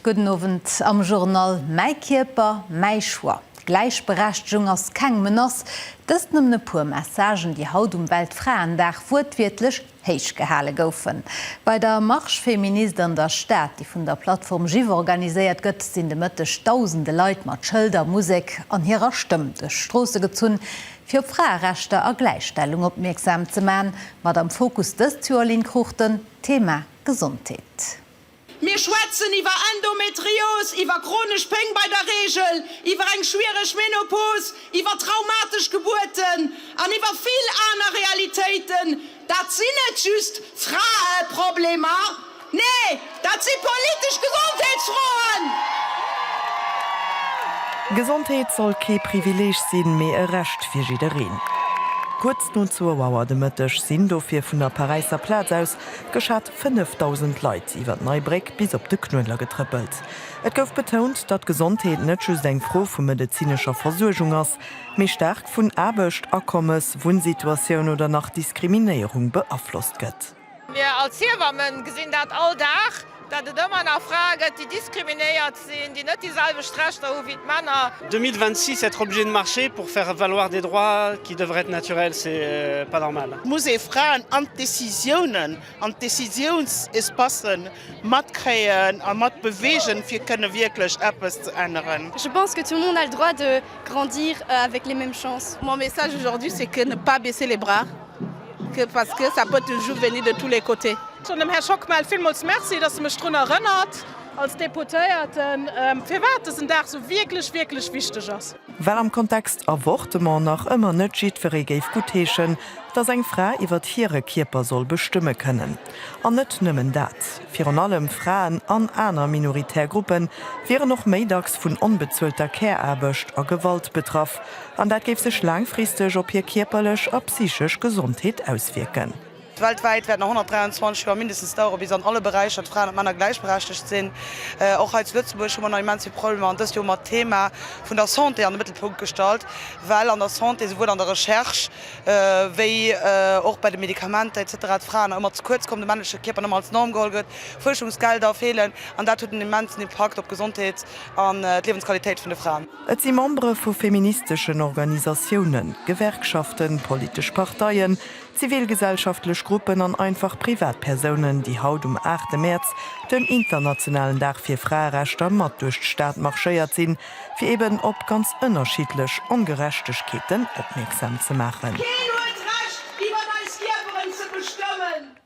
Gudden Owend. Am Journal Mäi Kierper, mäi Choix, Gläichberechtegung ass keng Menace, dëst nëmmen e puer Messagen, déi haut um Weltfraendag wuertwiertlech héich gehale goufen. Bei der Marche Féministe an der Stad, déi vun der Plattform Jive organiséiert gëtt, sinn de Mëtteg dausende Leit mat Schëlder, Musek an hirer Stëmm duerch d'Stroosse gezunn, fir op Fraerechter a Gläichstellung opmierksam ze man. Mat am Fokus dëst Joer, Lynn Cruchten, d'Thema Gesondheet. Mir schwätzen iwwer Endometrios, iwwer chronesch Péng bei der Reegel, iwwer eng schwiereg Menopause, iwwer traumatesch Gebuerten an iwwer vill aner Realitéiten. Dat sinn net just Fraeproblemer, nee, dat si politesch Gesondheetsfroen! Gesondheet soll kee Privileeg sinn, mee e Recht fir jiddereen. Kuerz no zwou Auer de Mëtteg sinn dofir vun der Paräisser Plaz aus geschat. 5.000 Leit iwwer d'Nei Bréck bis op de Knuedler getrëppelt. Et gouf betount, datt Gesondheet net just eng Fro vu medezinescher Versuergung ass, mee staark vun Aarbecht, Akommes, Wunnsituatioun oder nach Diskriminéierung beaflosst gëtt. Mir als Hiewamme gesinn dat all Dag, datt et ëmmer nach Frae gëtt, déi diskriminéiert. Sinn, déi net déi selwecht Rechter hu wéi d'Männer. 2026 être obligé de marcher pour faire valoir des droits qui devraient être naturels, c'est pas normal. Muss ee Fraen an d'Décisiounen, an d'Décisiounsespacen matkréien a matbewegen, fir kënne wierklech eppes ze änneren. Je pense que tout le monde a le droit de grandir avec les mêmes chances. Mon message aujourd'hui c'est que ne pas baisser les bras que parce que ça peut toujours venir de tous les côtés. Dem Här Schockmel villmools Merci, dass e mech drun erënnert. Als Deputéierten, firwat dësen Dag esou wierklech, wierklech wichteg ass. Well am Kontext Avortement nach ëmmer net jiddweree géif guttheeschen, datt eng Fra iwwert hire Kierper soll bestëmme kënnen. An net nëmmen dat, virun allem Fraen an aner minoritär Gruppe wieren och méi dacks vun onbezuelter Care-Aarbecht a Gewalt betraff, an dat géif sech laangfristeg op hir kierperlech a psychesch Gesondheet auswierken. Weltwäit wäert nach 123 Joer mindestens daueren, bis an alle Beräicher d'Fraen an d'Männer gläichberechtegt sinn. Och hei zu Lëtzebuerg hu mer nach immens vill Problemer an dëst Joer mer d'Thema vun der Santé an de Mëttelpunkt gestallt, well an der Santé, souwuel an der Recherche wéi och bei de Medikamenter etc, d'Fraen nach ëmmer ze kuerz kommen, de männleche Kierper nach ëmmer als Norm geholl gëtt, Fuerschungsgelder feelen an dat huet en immensen Impakt op d'Gesondheet an d'Liewensqualitéit vun de Fraen. Et si Membere vu feministeschen Organisatiounen, Gewerkschaften, politesch Parteien, Zivilgesellschaftlech Gruppen an einfach Privatpersounen, déi haut um 8 Mäerz, den internationalen Dag fir Fraerechter, mat duerch d'Stad marschéiert sinn, fir eben op ganz ënnerschiddlech Ongerechtegkeeten opmierksam ze maachen. Keen huet d'Recht, iwwer eis Kierperen ze bestëmmen.